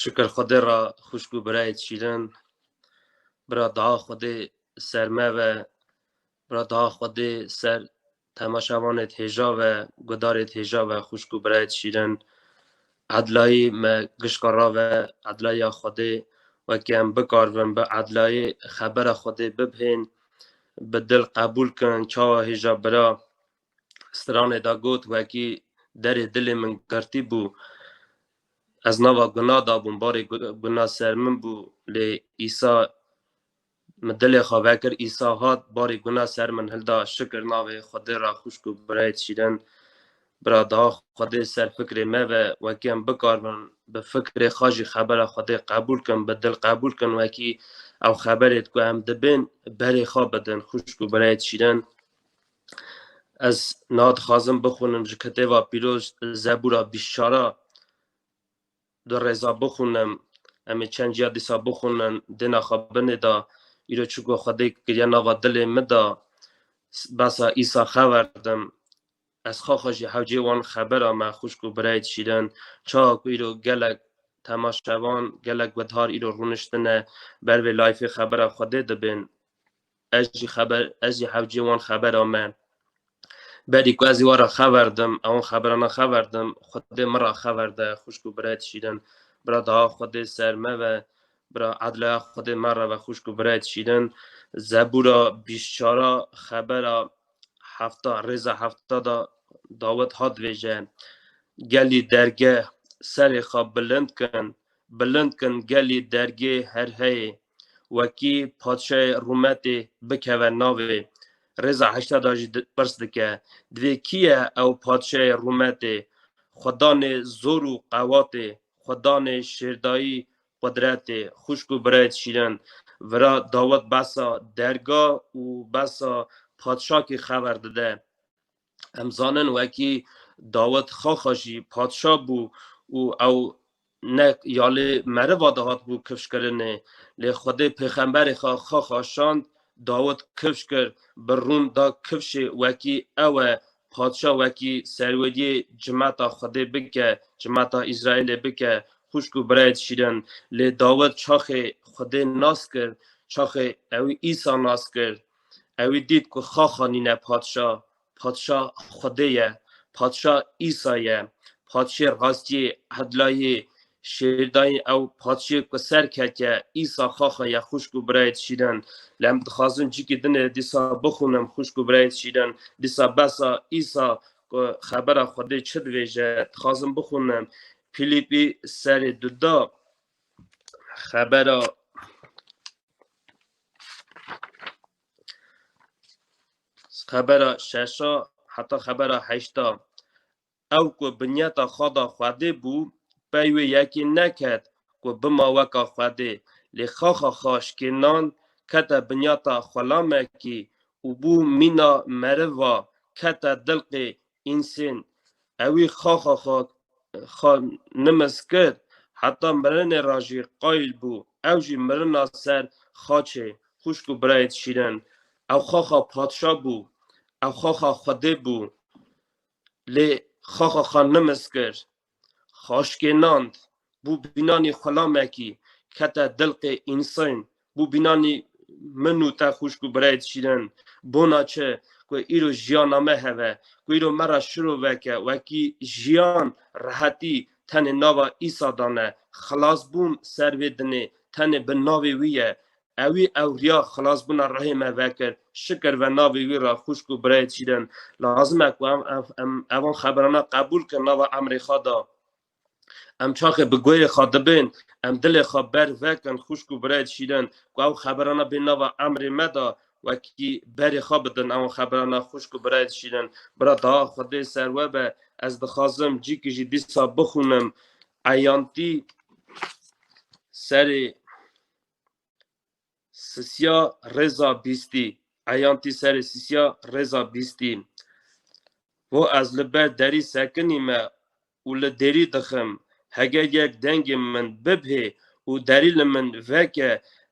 Şükür Xwedê ra xuşk û birayê şîrin. Bira daha Xwedê ser me ve. Bira daha Xwedê ser temaşavanê hêja ve, gudarê hêja ve xuşk û birayê şîrin. Edlayî me gişka ra ve edlayiya Xwedê wekî em bikarvin bi edlayî xebera Xwedê bibhên bi dil qebûl kin çawa hêja bira. stranê de got wekî derê dilê min girtî bû ez nava guna dabûm barê guna ser min bû lê îsa min dilê xwe vekir îsa hat barê guna ser min hilda şikir navê xwedê ra xuşk û birayê şîrin bira daha xwedê ser fikrê me ve wekî em bikaribin bi fikrê xwe jî xebera xwedê qebûl kin bi dil qebûl kin wekî ew xeberê ku em dibên berê xwe bidin xuşk û birayê şîrin Ez niha dixwazim bixwînim ji kitêba pîroz Zebûra bîst û çar a di rêza bixwînim em ê çend ciya dîsa bixwînin dêna xwe binê de îro çiko Xwedê kiriye nava dilê min de behsa Îsa xewer didim ez xaxa jî hewcê wan xebera me xwişk û birayê dişîrin çawa ku îro gelek temaşevan gelek guthar îro rûniştine ber vê layîfê xebera Xwedê dibên. Ez jî xeber ez jî hevcê wan xebera me. Berî ku ez ê wara xeber dim, ewan xeberana xeber dim, xwedê min ra xeber de, xwişk û birayê dişîrin. Bira daha xwedê ser me ve, bira edlaya xwedê me re ve, xwişk û birayê dişîrin. Zebûra bîst çara xebera hefta rêza hefta da dawet hat vêje. Gelî dergeh serê xwe bilind kin, Bilind kin gelî dergê herheyê. Wekî padşayê rûmetê bikeve navê. Rêza heşteda jî pirs dike, divê kî ye ew padşayê rûmetê? Xwe danê zor û qewatê, xwe danê şêrdayî qudretê. Xwişk û birayt şîrin vira dawet behsa derga û behsa padşakî xever dide. Em zanin wekî Dawid xaxa jî padşa bû û ew ne ya lê meriva dihat bû kifşkirinê lê Xwedê pêxemberê xwe xaxa şand Dawid kifş kir bi rûn da kifşê wekî ew e padşa wekî serweriyê cimeta Xwedê bike cimeta Îsraîlê bike xwişk û birayê dişîrin lê Dawid çaxê Xwedê nas kir çaxê ew Îsa nas kir Ewî dît ku xaxa nîne Padşa, Padşa Xwedê ye, Padşa Îsa ye, Padşê rastiyê, edlayê, şêrdayên ew Padşê ku ser ketiye, Îsa xaxa ye xwişk û birayê şîrin. Lê em dixwazin cikî din ê dîsa bixwînim xwişk û birayê şîrin, dîsa besa Îsa ku xebera Xwedê çi dibêje dixwazim bixwînim. Fîlîpî serê dida xebera. Xebera şeşa heta xebera heşta ew ku binyeta xada Xwedê bû pey wê yekê neket ku bima weka Xwedê lê xaxa xwe şikênan kete binyeta xwelamekî û bû mîna meriva kete dilqê Însin, ewî xa xa xa xa nimes kir, heta mirinê ra jî qayîl bû, ew jî mirina ser xaçê xwişk û birayê dişînin. Ew xa xa padşa bû, ew xa xa xwedê bû. Lê xa xa xa nimes kir, Xaşkê Nand bû bînanî xulamekî kete dilqê însayn, bû bînanî min û te xwişk û birayîd şîrin, bona çi ku îro jiyana me heve, ku îro me ra şiro veke, wekî jiyan, rehetî tenê nava Îsa dane, xilasbûn ser vê dinê tenê bi navê wî ye, Ewî ewriya xilasbûna rehê me vekir. Şikir ve navê wî ra xwişk û birayê çîrin. Lazim e ku em evan xeberana qebûl kin nava emrê xwe da. Em çaxê bi goyê xwe dibên, em dilê xwe berf vekin xwişk û birayê çîrin ku ew xeberana bên nava emrê me da wekî berê xwe bidin evan xeberana xwişk û birayê çîrin. Bira daha Xwedê ser we be ez dixwazim cîkî jî dîsa bixwînim eyantî serê Sisiya rêza bîstî. Eyan tî serê sisiya rêza bîstî. Ho ez li ber derî sekinî me û li dêrî dixim. Heger yek dengê min bibhê û derî li min veke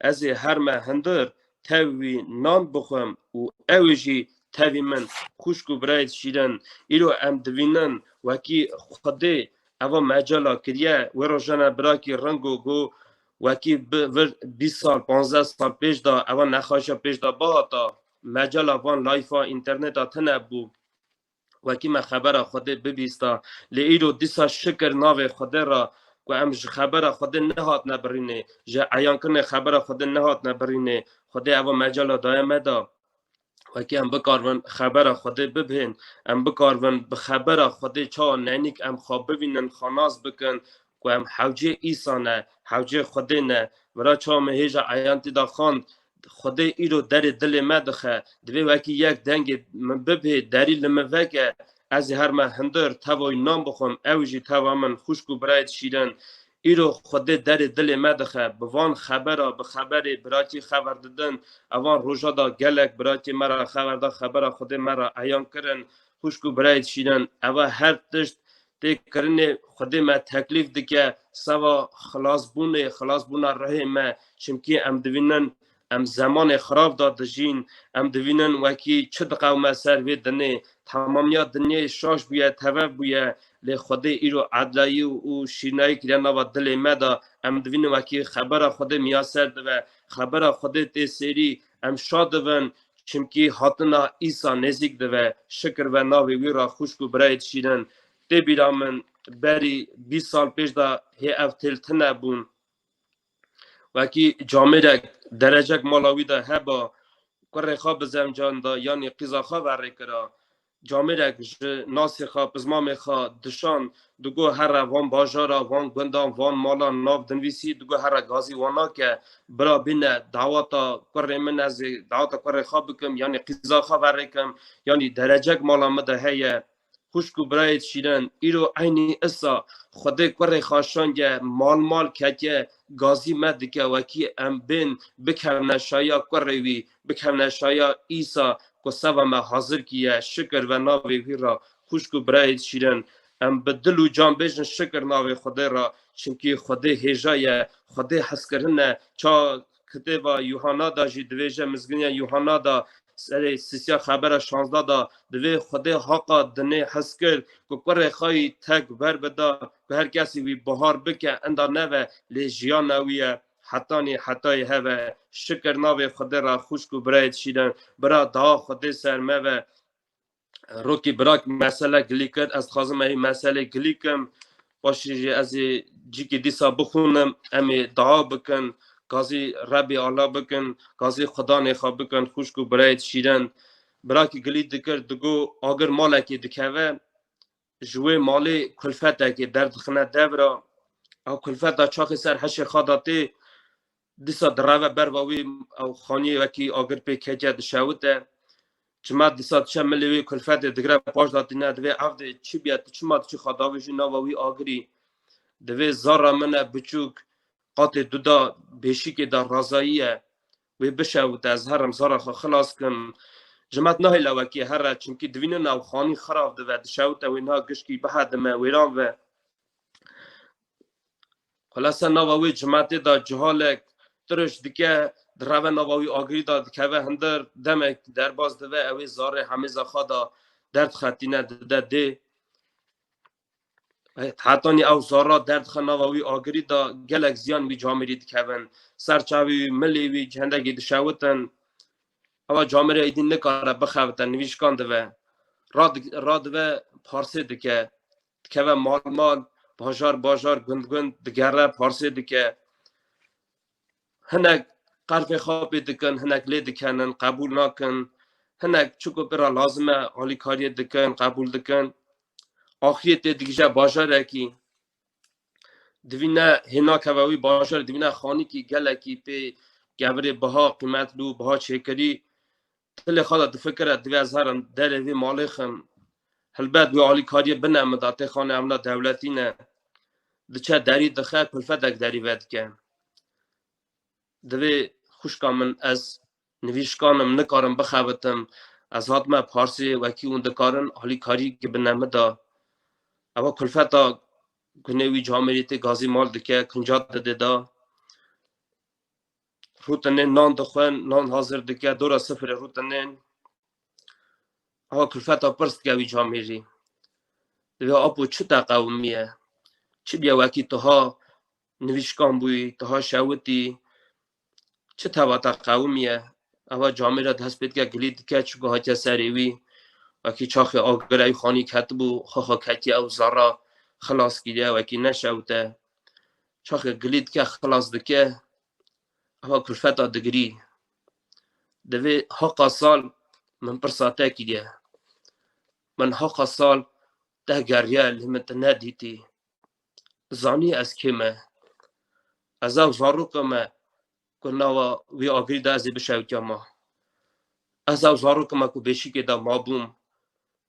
ez ê herme hindir tev wî nan bixwim û ew ê jî tevî min. Xwişk û birayê şîrin, îro em divînin wekî Xwedê eva mecala kiriye. Wê rojane birakî ring û got Wekî vir bîst sal panzdeh sal pêş de ewa nexaşa pêş de bihata mecala van layfa înterneta tine bû wekî me xebera Xwedê bibîsta lê îro dîsa şikir navê Xwedê re ku em ji xebera Xwedê nehatine birînê ji eyankirinê xebera Xwedê nehatine birînê Xwedê ewa mecala daye me de وەکی em bikarvin xebera Xwedê bibhên, em bikarvin bi xebera Xwedê çawa nenîk em xwe bivînin, xwe nas bikin ku em hewcê Îsa ne, hewcê Xwedê ne. Vira çawa me hêja eyan tê de xwend, Xwedê îro derê dilê me dixe, divê wekî yek dengê min bibhê, derî li min veke, Ez ê her me hindir tevayî nan bixwim, ew jî teva min, xwişk û birayê şîrin. Îro Xwedê derê dilê me dixe. Bi van xebera, bi xeberê birakî xeber didin. Evan roja da gelek birakî me ra xeber da, xebera Xwedê me ra eyan kirin. Xwişk û birayê şîrin, eva her tişt tê kirinê, Xwedê me teklîf dike, seva xilasbûnê, xilasbûna rihê me, çimkî em divînin Em zemanê xirab de dijîn. Em dibînin wekî çi diqewime ser vê dinê. Temamiya dinyayê şaş bûye, tevev bûye. Lê Xwedê îro edlayî û şîrnayî kiriye nava dilê me de. Em dibînin wekî xebera Xwedê miyaser dibe. Xebera Xwedê tê sêrî. Em şa dibin. Çimkî hatina Îsa nêzîk dibe. Şikir be navê wî re xwişk û birayê şîrin. Tê bîra min berî bîst sal pêş de hê ev têl tune bûn. وekî camêrek derecek mala wî de heba kurê xwe bi zemcan da yanî qîza xwe verê kira camêrek ji nasê xwe pizmamê xwe dişand digo here van bajara van gundan van malan nav dinvîsî digo here gazî wan nake bira bîne dawata kurê min ez ê dawata kurê xwe bikim yanî qîza xwe verê kim yanî derecek mala min de heye Xuşk û birayê şîren, îro eynî issa Xwedê kurê xaşange, mal mal keke, gazî me dike wekî em bên bikevne şaya kurê wî, bikevne şaya Îsa ku seba me hazir kîye, şikir ve navê wî ra. Xuşk û birayê şîren, em bi dil û can bêjin şikir navê Xwedê ra, çimkî Xwedê hêja ye, Xwedê hezkirin e, ça kitêba Yuhanna da jî divêje mizginiya Yuhanna da serê sîsiya xebera şanzda da divê xwedê haqa dinê hes kir ku kurê xwe yî tek ver bida ku her kesî wî bihar bike enda neve lê jiyana wî ye hetanî hetayê heve şikir navê xwedê ra xwişk û birayê dişînin bira daha xwedê ser meve Rokî birak mesele gilî kir ez dixwazim me meselê gilî kim başî jî ez ê cîkî dîsa bixûnim em ê daa bikin gazî rebê ala bikin gazî xudanê xwe bikin xuşk û birayê şîrin birakî gilî dikir digo agir malekê dikeve ji wê malê kulfetekê derdixine dev re ew kulfeta çaxê ser heşê xada tê disa direve berva wî ew xaniyê wekî agir pê keke dişewite çima disa diçe milê wê kulfetê digire paş da tîne divê ev dê çi biye tu çima diçi xadavê jî nava wî agirî divê zara min e biçûk qatê duda bêşikê da razayiye Wê bişewite ez herim sara xwe xilas kim. Ji me nahê lewekê here çimkî divîne navxanî xirav dive dişewite wê niha gişkî bihedime wêran ve. Xula ser nava wê cimetê de cihalek tiriş dike direve nava wî agirî de dikeve hindir demek derbas dive ewê zarê hemêza xwe de derdxetîne dide dê. Hetanî ew zarra derdxe nava wî agirî da gelek ziyan wî camirî dikevin. Ser çavî wî milê wî hendekî dişewitin. Ewa camirê êdî nikare bixevite nivîşkan dive. Radive parsê dike. Dikeve mal mal bajar bajar gund gund digere parsê dike. hinek qerfê xwe pê dikin hinek lê dikenin qebûl nakin hinek çiko pira lazim e alîkariyê dikin qebûl dikin axiriyê tê digije bajarekî divîne hênakeve wî bajar divîne xanîkî gelekî pê gevirê biha qîmetlû biha çêkirî Tilê xwe de difikire divê ez herim derê vê malê xim. Hilbet wê alîkariyê bine min da tê xane emna dewletî ne. Diçe derî dixe kulfedek derî vedike. Divê xuşka min ez nivîşkanim nikarim bixebitim. Ez hatime Parsê wekî hûn dikarin alîkarî bine min da. Ewa kulfeta gunê wî camêrî tê gazî mal dike, kinca didê da. Rûtinên nan dixwin, nan hazir dike, dora sifirê rûtinên. Ewa kulfeta pirs dike wî camêrî. Divê apo çi te qewimiye? Çi biye wekî tiha nivîşkan bûyî, tiha şewitî, çi teva te qewimiye? Ewa camêre dest pê dike, gilî dike, çi ku hatiye serê wî. Wekî çaxê agirê wî xanî ketibû, xwe xwe ketiye ew zerra xilas kiriye wekî neşewite. Çaxê gilî dike xilas dike ewa kulfeta digirî. Divê heqa sal min pirsa te kiriye. Min heqa sal te geriye lê min te nedîtî. Zanî ez kê me. Ez ew zaroka me ku nawa wî Agil da ez ê bişewtiya ma. Ez ew zarokê me ku Bêşîkê de mabûm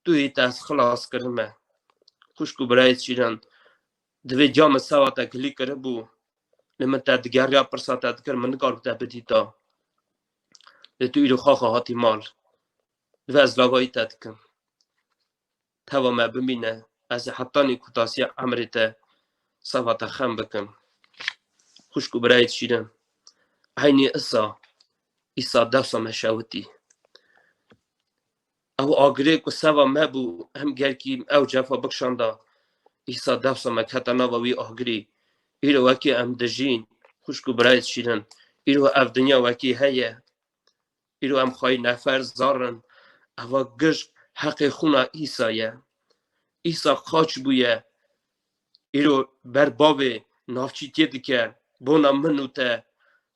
tu yê te ez xilas kirin me. Xwişk û birayê şîrin divê ca min sewa te kilî kiribû li min te digeriya pirsa te dikir min nikarbû te bidîta. Lê tu îro xaxa hatî mal. Divê ez lagayî te dikim. Teva me bimîne, ez ê hetanî kûtasiya emrê te seva te xem bikim. Xwişk û birayê şîrin, eynî isa, îsa dewsa me şewitî. Ew agirê ku seva me bû, em gelkî ew cefa bikşanda, îsa dewsa me kete nava wî agirî. Îro wekî em dijîn, xwişk û birayê şîrin, îro ev dinya wekî heye, Îro em xwayî nefer zarin eva gişt heqê xûna Îsa ye. Îsa xaç bûye îro ber bavê navçî tê dike bona min û te.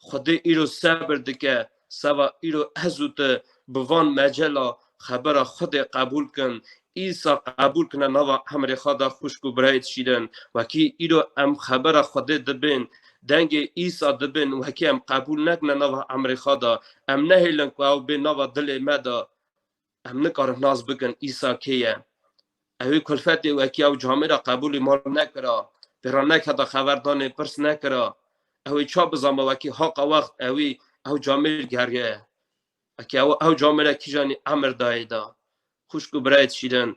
Xwedê îro sebir dike seba îro ez û te bi van mecela xebera Xwedê qebûl kin Îsa qebûl kine nava emrê xwe da xwişk û birayê dişîrin. Wekî îro em xebera Xwedê dibin, dengê Îsa dibin, wekî em qebûl nekine nava emrê xwe da, em nehêlin ku ew bê nava dilê me da, em nikarin nas bikin Îsa kê ye. Ewê kulfetê wekî ew camê ra qebûlê ma re nekira, pê re neketa xeberdanê, pirs nekira. Ewê ça bizanba wekî haqa wext ewê ew camê geriye. Eke ew ew camêre kîjanî emir dayê da. Xwişk û birayê dişîrin.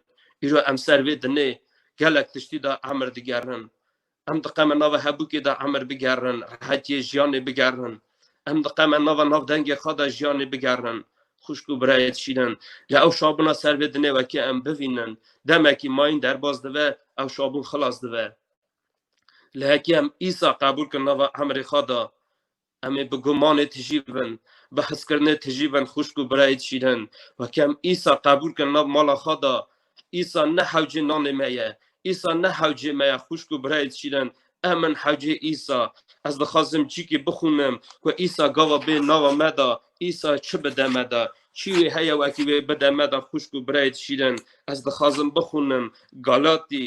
Îro em ser vê dinê gelek tiştî da emir digerin. Em diqeme nava hebûkê da emir bigerin, rehetiyê jiyanê bigerin. Em diqeme nava nav dengê xwe da jiyanê bigerin. Xwişk û birayê dişîrin. Lê ew şabûna ser vê dinê wekî em bivînin. Demekî mayîn derbas dibe, ew şabûn xilas dibe. Lê hekî em îsa qebûl kin nava emrê xwe da, Em ê bi gumanê tijî bin, bi hizkirinê tijî bin xwişk û birayê şîrin. Wekî em Îsa qebûl kirin nav mala xwe de, Îsa ne hewcê nanê me ye, Îsa ne hewcê me ye xwişk û birayê şîrin, em in hewcê Îsa. Ez dixwazim cîkî bixwînim ku Îsa gava bê nava me de, Îsa çi bide me de. Çî wê heye wekî wê bide me de xwişk û birayê şîrin. Ez dixwazim bixwînim Galatî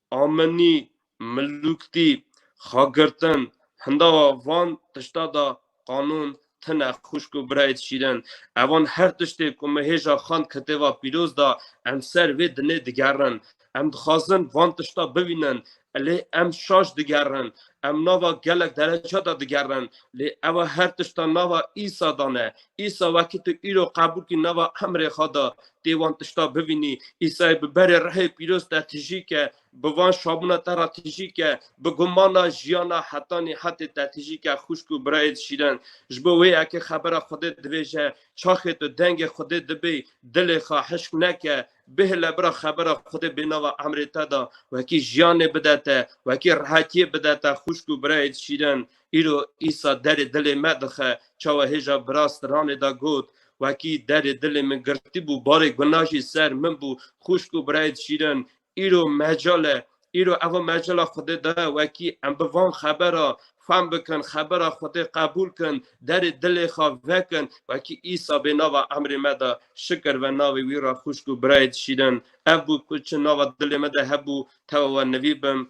Amenî, Milûktî, Xagirtin, hindawa van tişta de qanûn tine xwişk û birayît şîrin. Evan her tiştê ku me hêja xand kitêva pîroz de em ser vê dinê digerin. Em dixwazin van tişta bibînin lê em şaş digerin. Em nava gelek dereca de digerin lê ewa her tişta nava Îsa de ne. Îsa wekî tu îro qebûl kî nava Emrê xwe de Tê wan tişta bivînî, Îsayê bi berê rehê pîroz te tijî ke, bi van şabûna te ra tijî ke, bi gumana jiyana hetanî hetê te tijî ke xwişk û birayê şîren. Ji bo wê eke xebera Xwedê divêje, çaxê to dengê Xwedê dibê, dilê xwe hişk neke, bihile bira xebera Xwedê bênava emrê te de, wekî jiyanê bide te, wekî rehetiyê bide te xwişk û birayê şîren. Îro Îsa derê dilê me dixe. Çawa hêja virast ranê da got, Wekî derê dilê min girtîbû, barê guna jî ser min bû. Xwişk û birayê şîrin, îro mecal e. Îro eva mecala Xwedê da ye, wekî em bi van xebera fehm bikin, xebera Xwedê qebûl kin, derê dilê xwe vekin, wekî Îsa bê nava emrê me da, şikir ve navê wî ra xwişk û birayê şîrin. Ev bû ku çi nava dilê min de hebû, tewa we nivî bim.